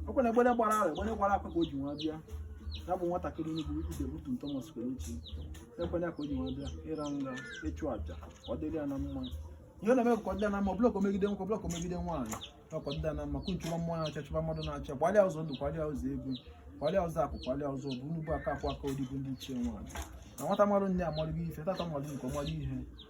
ọ kwa egbene gbara ahụ egbene gbara akwa ka o ji wee bịa ya bụ nwatakịrị onye bụ ide butu Thomas Kelechi ekwere ka o ji wee bịa ịra nga ịchụ aja ka ọ dịrị ya na mma ihe na-eme ka ọ dị ya na mma blọk megide nwoke blọk megide nwaanyị ka ọ dị ya na mma kunchụwa mmụọ na-acha chụba mmadụ na-acha gbalịa ụzọ ndụ gbalịa ụzọ ego gbalịa ụzọ akụ gbalịa ụzọ ụba nnukwu aka akwụ aka odibo ndị ichie nwaanyị na nwata mmadụ nne amalụgo ife tata mmadụ nke ọmalụ ihe